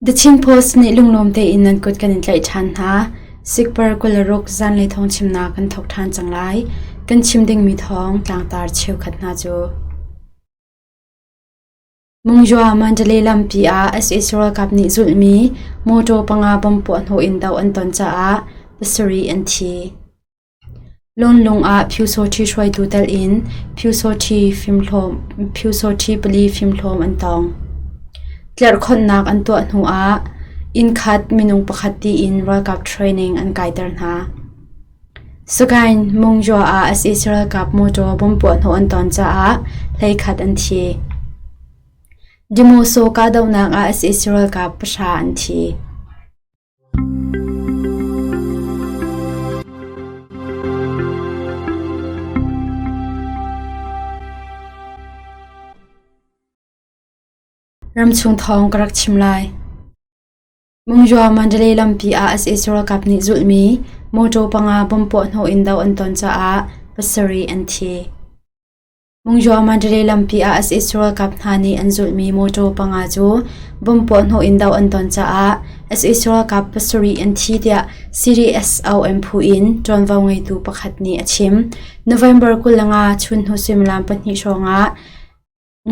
The Chin Post nih lunglawm tein nan kut kan in tlaih ṭhan hna. Sikpar kularuk zanlei thawng chimnak kan thawk ṭhan cang lai. Kan chim dingmi thawng tlangtar cheukhat hna cu. Mungyua Mandalay lampi ah SS ralkap nih zulhmi motor panga bom puahhnawh in doh an ton caah pasarih an thi. Lawnlung ah Phyusawṭhi hruaitu telh in Phyusawṭhi pali fimhlawm an tawng. Tlerhkhonhnak an tuah hnu ah innkhat minung pakhat tiin ralkap training an kaiter hna. Sagaing Mungyaw ah sac ralkap motor bomb puahhnawh an ton caah hleikhat an thi. Dimoso kahdohnak ah sac ralkap pahra an thi. Ramchung thawng ka rak chim lai. Mungyaw Mandalay lampi ah sac ralkap nih zulhmi motor panga bom puahhnawh in do an ton caah pasarih an thi. Mungyaw Mandalay lampi ah as Israel kap hna nih an zulhmi mawṭaw panga cu bom puahhnawh in doh an ton caah as Israel kap pasarih an thi tiah CDSOM phu in ṭuanvo ngeitu pakhat nih a chim. November kul le nga chunhnu suimilam pahnih hrawngah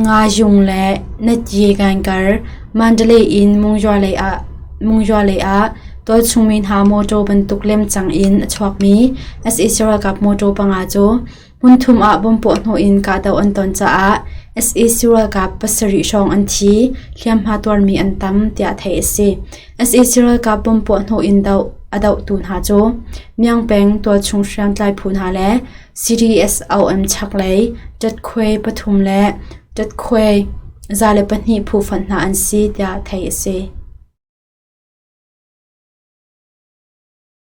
Nga Yung le Natye Gangkar Mandalay in Mungyaw lei ah Mungyaw lei ah tualchungmi hna mawṭaw bantuk lemcang in a chuakmi as Israel kap mawṭaw panga cu Hmunthum ah bomb puahhnawh in kahdoh an ton caah sac ralkap pasarih hrawng an thi, hliamhma tuarmi an tam, tiah theih a si. sac ralkap bomb puahhnawh in doh a dohtu hna cu Myangpeng tualchung hriamtlai phu hna le CDS OM chaklei Tatkwe pathum le Tatkwe za le pahnih phu fonh hna an si, tiah theih a si.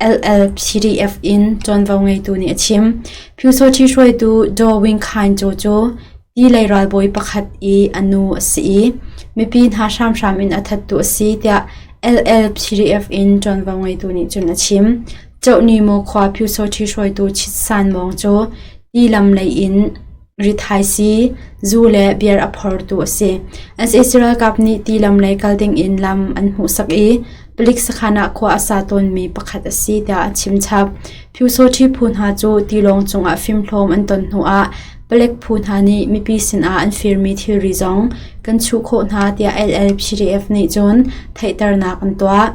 LLCDF in ṭuanvo ngeitu nih a chim. Phyusawṭhi hruaitu Daw Wing Khain Caw cu tilei ralbawi pakhat i a nu a si i mipi hna hramhram in a thattu a si tiah LLCDF in ṭuanvo ngeitu nih cun a chim. Chohni Mo khua Phyusawṭhi hruaitu Chit San Mawng cu ti lam lei in rithaisi, zu le beer a phortu a si. As is ralkap nih tilam lei kal dingin lam an hmuhsak i palik sakhan ah khua a sa tawnmi pakhat a si tiah a chimchap. Phyusawṭhi phu hna cu tilawng cungah fimhlawm an ton hnuah palek phu hna nih mipi sinah an firmi thilri zong kan chuh khawh hna tiah LLPDF nih cun theihternak an tuah.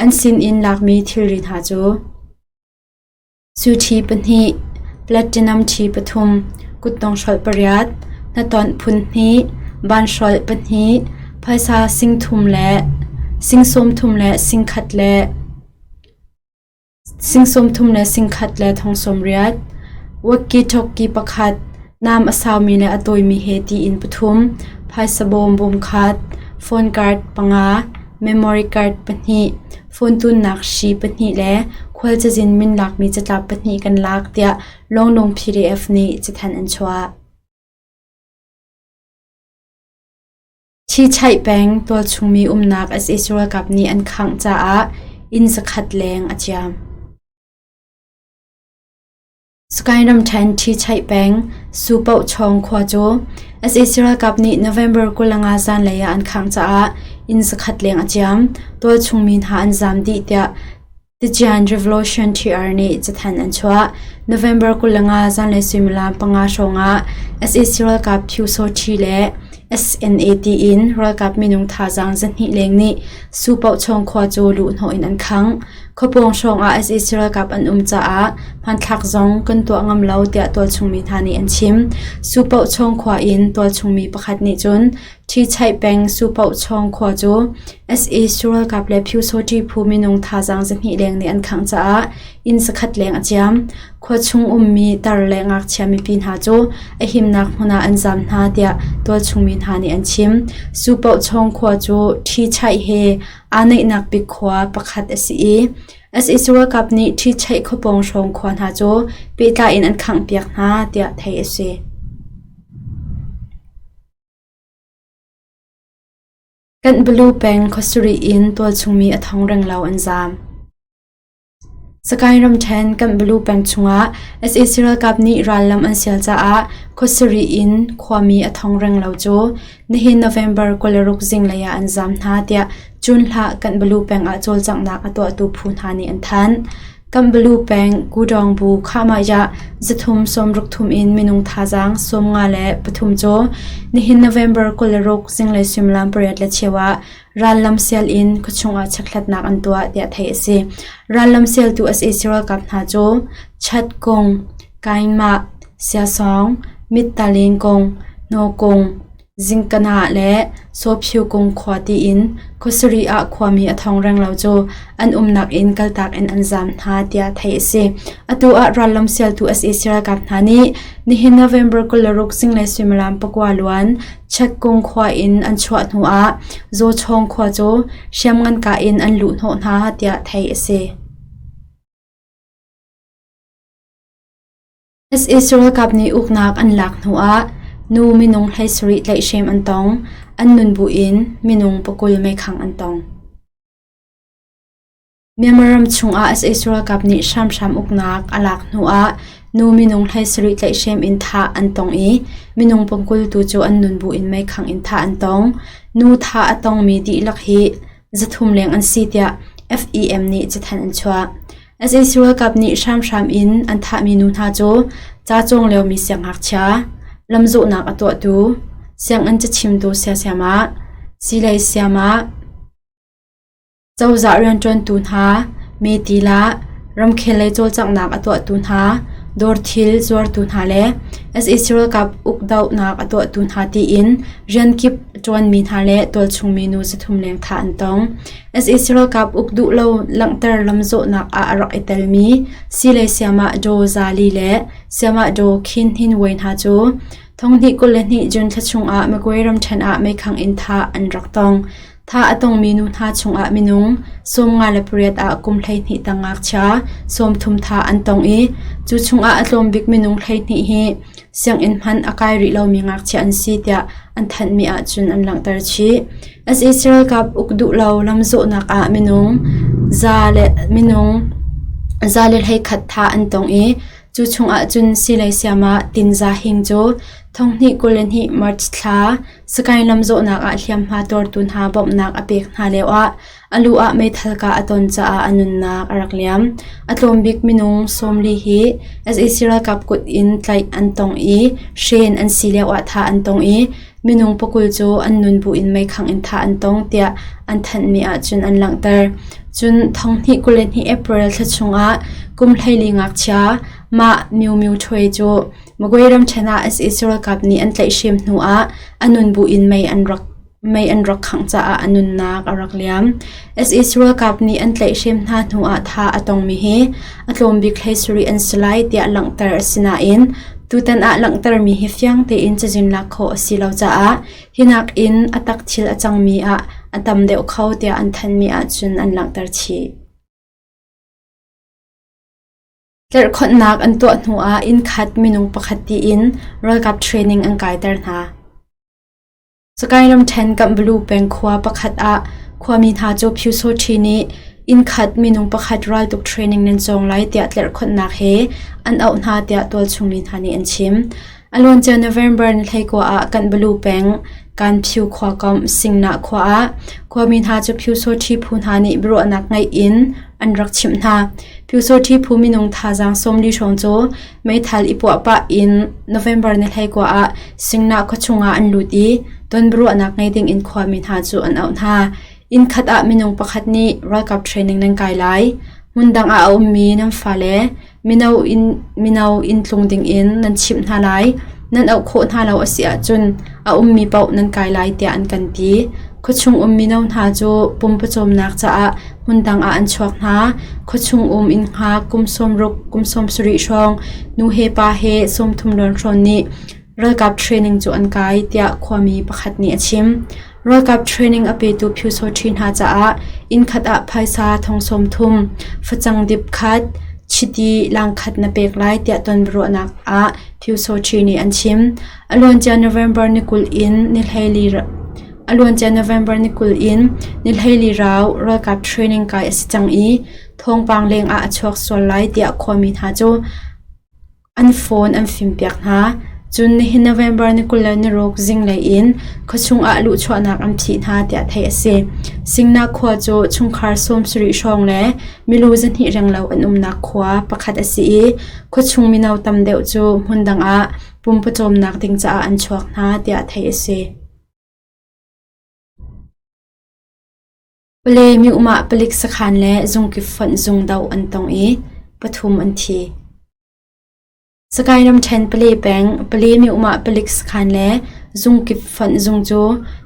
An sin in lakmi thilri hna cu Suṭhi pahnih, platinum ṭhi pathum, kuttong hrolh pariat, hnaṭawnh phun hnih, van hrolh pahnih, phaisa sing thum le sing sawmthum le sing khat le sing sawmthum le sing khat le thong sawmriat, wokki-tokki pakhat, Nam a saumi le a tawimi he tiin pathum, phaisa bawm bawmkhat, phone card panga, memory card pahnih, phone tunnak hri pahnih le khual cazin min lakmi catlap pahnih kan lak tiah Lawnglawng PDF nih cathanh an chuah. Chichaih peng tualchungmi umnak sac ralkap nih an khangh caah inn zakhat leng a ciam. Skyram ṭhen ṭhi chaih peng, Su Poh Chawng khua cu sac ralkap nih November kulanga zanlei ah an khangh caah inn zakhat leng a ciam, tualchung mi hna an zam dih tiah Tidzian Revolution TR nih cathanh an chuah. November kulanga zanlei suimilam panga hrawngah sac ralkap Thiusoṭhi le SNAT in ralkap minung thazaang zahnih leng nih Su Poh Chawng khua cu luhhnawh in an khangh. Khuapawng hrawngah sac ralkap an um caah hmanthlak zong kan tuah ngam lo tiah tualchungmi hna nih an chim. Supoh Chawng khua in tualchungmi pakhat nih cun Ṭhi Chaih peng Supoh Chawng khua cu sac ralkap le Phyu-Sawṭi phu minung thazaang zahnih leng nih an khangh caah inn zakhat leng a ciam. Khua chung ummi tar le ngakchia mipi hna cu a himnak hmun ah an zaam hna tiah tualchungmi hna nih an chim. Supoh Chawng khua cu Ṭhi Chaih he aa neihnak bik khua pakhat a si i sac ralkap nih ṭhi chaih khawpawng hrawng khua hna cu pehtlai in an khanghpiak hna tiah theih a si. Kanbalu peng khuasarih in tualchung mi a thong renglo an zaam. Sakae ramṭhen Kanbalu peng chungah sac ralkap nih rallam an sial caah khua sarih in khuami a thong reng lo cu nihin November kul le ruk zinglei ah an zaam hna tiah Cunhlah Kanbalu peng ah cawlcanghnak a tuahtu phu hna nih an thanh. Kanbalu peng Kudawngbu Khahmahya zathum sawmruk thum in minung thazaang sawm nga le pathum cu nihin November kul le ruk zinglei suimilam pariat le cheu ah Rallam sial in khuachung ah chekhlatnak an tuah tiah theih a si. Rallam sialtu a si Israel ralkap hna cu Chad kung, Kainmah, Siasawng, Mittalin kung, Naw kung, Zingkanah le Sawphiu kung khua tiin khuasarih ah khuami a thong reng lo cu an umnak in kaltak in an zaam hna tiah theih a si. Atu ah rallam sialtu a si Israel ralkap hna nih nihin November kul le ruk zinglei suimilam pakua luan Chatkung khua in an chuah hnuah Zawchawng khua cu hriamnganka in an luh hnawh hna tiah theih a si. As Israel kap nih uknak an lak hnuah nu minung hleisarih tlaihhrem an tong. An nun buin minung pakul meikhang an tong. Myanmar ram chungah sac ralkap nih hramhram uknak a lak hnuah nu minung hlei sarih tlaihhrem in thah an tong i minung pumkul tu cu an nun bu in meikhangh in thah an tong. Nu thah a tongmi dihlak hi zathum leng an si tiah FEM nih cathanh an chuah. sac ralkap nih hramhram in an thahmi nu hna cu ca cawng liomi siangngakchia, lamzawhnak a tuahtu, sianginn cachimtu siasiamah, silei siamah, Cozah rianṭuantu hna, metil ah ramkhel lei cawlcanghnak a tuahtu hna, dawr thil zuartu hna le sac ralkap ukdohnak a tuahtu hna tiin rian kip a ṭuanmi hna le tualchungmi nu zathum leng thah an tong. sac ralkap uk duh lo langhter lamzawhnak ah a rak i telmi sile sayamah Daw Za Li le Sayamah Daw Khin Hnin Wai hna cu thonghnih kul le hnih June thla chung ah Magway ramṭhen ah meikhangh in thah an rak tong. Tha a tongmi nu hna chungah minung sawm nga le pariat ah kum hleihnih tang ngakchia sawm thum tha an tong i cu chungah a tlawm bik minung hleihnih hi sianginn hman a kai rih lomi ngakchia an si tiah an thanhmi ahcun an langhter chih. SAC ralkap uk duh lo lamzawhnak ah minung za le minung za le hleikhat tha an tong i cu chungah cun silei siam ah tinza hing cu thonghnih kul le hnih March thla Sakae lam zawhnak ah hliamhma tuartu hna bawmhnak a pek hna lioah a lu ah meithal kah a ton caah a nunnak a rak liam. A tlawmbik minung sawmli hi sac ralkap kut in tlaih an tong i hren an si lioah thah an tong i minung pakul cu an nun bu in meikhangh in thah an tong tiah an thanhmi ahcun an langhter. Cun thong hnih kul le hnih April thla chungah kum hleili ngakchia Mah Miu Miu Ṭhwe cu Magway ramṭhen ah sac ralkap nih an tlaihhrem hnu ah a nun bu in mei an rak khangh caah a nunnak a rak liam. sac ralkap nih an tlaihhrem hna hnu ah tha a tongmi hi a tlawmbik hlei sarih an si lai tiah langhter a si nain tutan ah langhtermi hi fiang tein cazin lak khawh a si lo caah hi nakin a tak thil a cangmi ah a tam deuh kho tiah an thanmi ahcun an langhter chih. Tlirhkhonhnak an tuah hnuah innkhat minung pakhat tiin ralkap training an kaiter hna. Sakae ramṭhen Kambalu peng khua pakhat ah khuami hna cu Pyu Saw Ṭhi nih innkhat minung pakhat raltuk training nan cawng lai tiah tlirhkhonhnak he an auh hna tiah tualchung mi hna nih an chim. A luancia November ni hleikua ah Kanbalu peng Kanphyu khua komh Singnah khua ah khuami hna cu Phyusawṭhi phu hna nih biaruahnak ngeih in an rak chimh hna. Phyusawṭhi phu minung thazaang sawmli hrawng cu meithal i puah pah in November ni hleikua ah Singnah khua chungah an lut i ton biaruahnak ngei dingin khuami hna cu an auh hna. Inn khat ah minung pakhat nih ralkap training nan kai lai. Hmun dang ah a ummi nan fale Mino inntlung dingin nan chimh hna lai, nan auh khawh hna lo a si ahcun a ummi paoh nan kai lai tiah an kan ti. Khuachung um mino hna cu pum pawcawmnak caah hmundang ah an chuak hna. Khuachung um innha kum sawmruk, kum sawmsarih hrawng nu he pa he sawmthum rawnhrawn nih Ralkap training cu an kai, tiah khuami pakhat nih a chim. Ralkap training a petu phyusawṭhi hna caah innkhat ah phaisa thong sawm thum, facang dip khat, chiti langkhat na pek lai tiah tonbiaruahnak ah phyusawṭhi nih an chim. A luancia November ni kul in nihleili a luancia November ni kul in nihleili rau ralkap training kai a si cang i thawngpang leng ah a chuak sual lai tiah khuami hna cu An phone an fimpiak hna, cun nihin November ni kul le naruk zinglei in khuachung ah luhchuahnak an phih hna tiah theih a si. Singnak khua cu chungkhar sawmsarih hrawng le milu zahnih renglo an umnak khua pakhat a si i khuachung mino tam deuh cu hmun dang ah pumpawcawmnak ding caah an chuak hna tiah theih a si. Pale myuhmah palik sakhan le zungkip fonh zung doh an tong i pathum an thi. Sakae ramṭhen pale peng pale myuhmah palik sakhan le zungkip fonh zung cu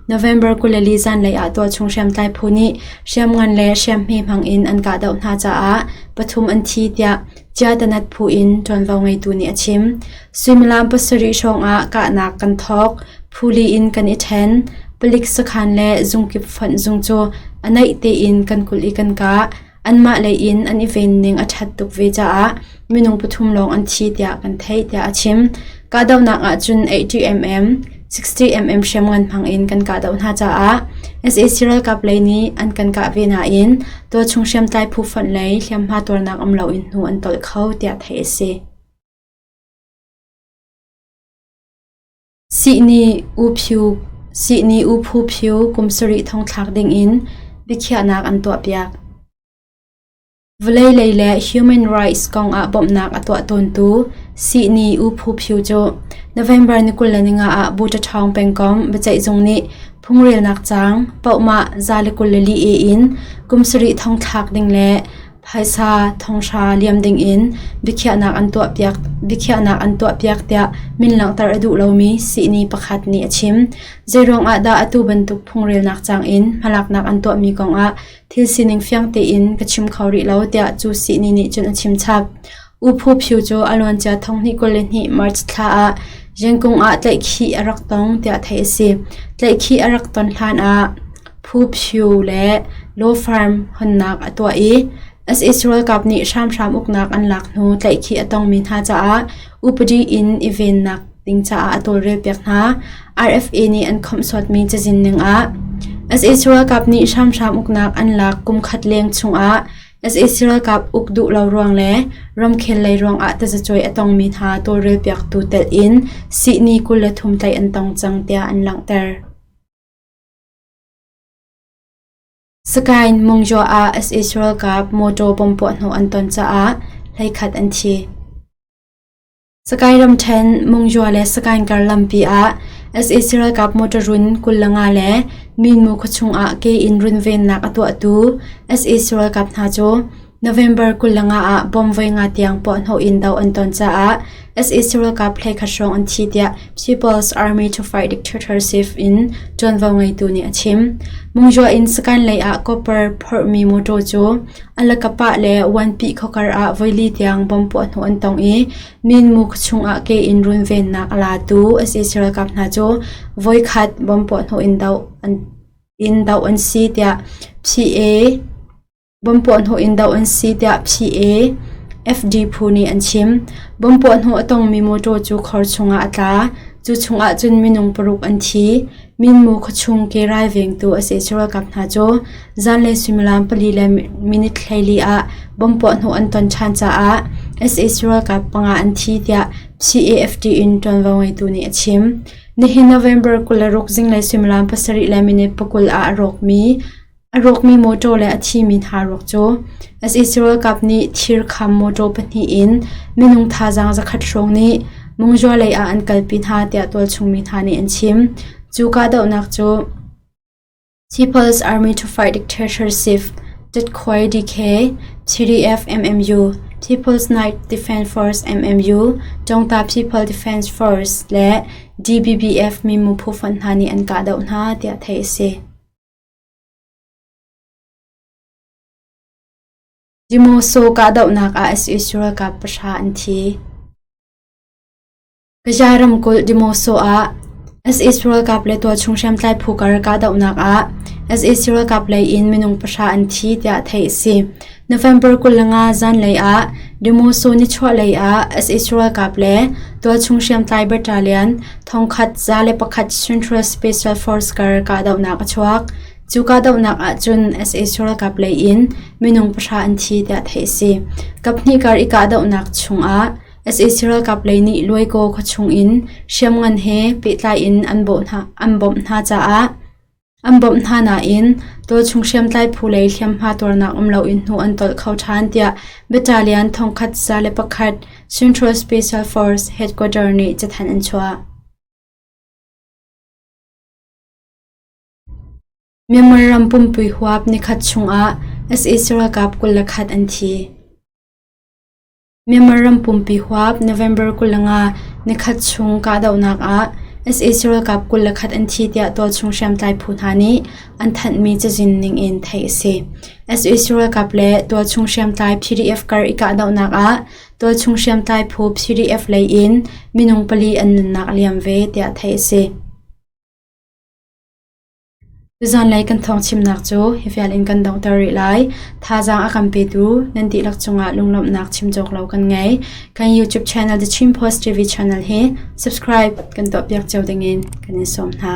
November kuleli zanlei ah tuahchung hriamtlai phu nih hriamngan le hriamhme hmang in an kahdoh hna caah pathum an thi tiah Ciatanat phu in ṭuanvo ngeitu nih a chim. Suimilam pasarih hrawngah kahnak kan thawk, phuli in kan i ṭhen, palik sakhan le zungkip fonh zung cu a naih tein kan kulh i kan kah. Anmah lei in an i venning a ṭhat tuk ve caah minung pathum lawng an thi tiah kan theih, tiah a chim. Kahdohnak ahcun ATMM, 60 mm hriamngan hmang in kan kahdoh hna caah sac ralkap lei nih an kan kah ve nain tualchung hriamtlai phu fonh lei hliamhma tuarnak um loin hnu an tolh kho tiah theih a si. Sihni u phu Sihni u phu phu kum sarih thong thlak ding in biakhiahnak an tuahpiak. Vawlei lei le human rights kong ah bawmhnak a tuah tawntu Sihni U Phu Phyu cu November ni kul le ni nga ah Butachawng pengkomh biaceihzung nih phungrelnak caang pohmah za le kul le li e in kum sarih thong thlak ding le phaisa thonghra liam ding in biakhiahnak an tuahpiak biakhiahnak an tuahpiak tiah min langhter a duh lomi Sihni pakhat nih a chim. Zeiruang ah dah atu bantuk phungrelnak caang in hmalaknak an tuahmi kong ah Thil sining fiang tein ka chim kho rih lo tiah cu sihni nih cun a chim chap. U Phu Phyu cu a luancia thonghni kul le hnih March thla ah Zengkung ah tlaihkhih a rak tong tiah theih a si. Tlaihkhih a rak ton hlan ah Phu Phyu le Law Farm honnak a tuah i US ralkap nih hramhram uknak an lak hnu tlaihkhih a tongmi hna caah upadi in i vennak ding caah a tawlrel piak hna. RFA nih an khawmhsuatmi cazin ningah sac ralkap nih hramhram uknak an lak kum khat leng chungah sac ralkap uk duh lo ruang le ramkhel lei ruangah tazacuai a tongmi hna tawlrel piaktu telh in sihni kul le thum tlaih an tong cang tiah an langhter. Sakain Mungjaw ah sac ralkap motor bom puah hnawh an ton caah hleikhat an thi. Sakae ram ṭhen Mungyaw le Sakaing kar lampi ah sac ralkap motorun kul le nga le Minmu khuachung ah ke in runvennak a tuahtu sac ralkap hna cu November kul le nga ah bomb voi nga tiang puahhnawh in doh an ton caah sac ralkap phlekhat hrawng an thi tiah People's Army to Fight Dictatorship in ṭuanvo ngeitu nih a chim. Mungyaw in Sakaing lei ah copper phorhmi motor cu A lakapah le Vuanpi khuakar ah voili tiang bom puahhnawh an tong i Minmu chungah ke in runvennak a latu sac ralkap hna cu voikhat bom puahhnawh in doh an si tiah PA bom puahhnawh in doh an si tiah PA FD phu nih an chim. Bom puahhnawh a tongmi motor cu khor chungah a tla. Cu chungah cun minung paruk an thi. Minmu khuachung ke ralvengtu a si Israel ralkap hna cu zanlei suimilam pali le minit hleili ah bomb puahhnawh an ton ṭhan caah sac ralkap panga an thi, tiah CAFD in ṭuanvo ngeitu nih a chim. Nihin November kul le ruk zinglei suimilam pasarih le minit pakul ah a rawkmi A rawkmi mawṭaw le a thimi hna ruak cu as Israel ralkap nih thir kham mawṭaw pahnih in minung thazaang zakhat hrawng nih Mungzua lei ah an kalpi hna tiah tualchungmi hna nih an chim. Cu kahdohnak cu People's Army to Fight Dictatorship (TDCOI) (DK), TDF MMU, People's Night Defense Force (MMU), Tawngta People Defense Force le DBBF mimu phu fund hna nih an kahdoh hna tiah theih a si. Dimawsaw kahdohnak ah US ralkap pahra an thi. Gaza ramkulh Dimawsaw ah US ralkap le tualchung hriamtlai phu kar kahdohnak ah US ralkap lei in minung pahra an thi tiah theih a si. November kul le nga zanlei ah Demoso nichuahlei ah US ralkap le tualchung hriamtlai battalion thongkhat za le pakhat Central Special Force kar kahdohnak a chuak. Cu kahdohnak ahcun US ralkap lei in minung pahra an thi tiah theih a si. Kaphnih kar i kahdohnak chungah US ralkap lei nih Luaikaw khuachung in hriamngan he pehtlai in an bawmh hna caah An bawmh hna nain tualchung hriamtlai phu lei hliamhma tuarnak um loin hnu an tolh kho ṭhan tiah Battalion thongkhat za le pakhat Central Special Force Headquarter nih cathanh an chuah. Myanmar ram pumpui huap nikhat chungah sac ralkap kul le khat an thi. Myanmar ram pumpi huap November kul le nga nikhat chung kahdohnak ah sac ralkap kul le khat an thi tiah tawchung hriamtlai phu hna nih an thanhmi cazin ningin theih a si. sac ralkap le tawchung hriamtlai PDF kar i kahdohnak ah tawchung hriamtlai phu PDF lei in minung pali an nunnak a liam ve tiah theih a si. Zanlei kan thawngchimnak cu hi vial in kan donghter rih lai. Thazaang a kan petu nan dihlak cungah lunglawmhnak chim cawk lo kan ngei. Kan YouTube channel The Chin Post TV channel hi subscribe kan tuahpiak cio dingin kan in sawm hna.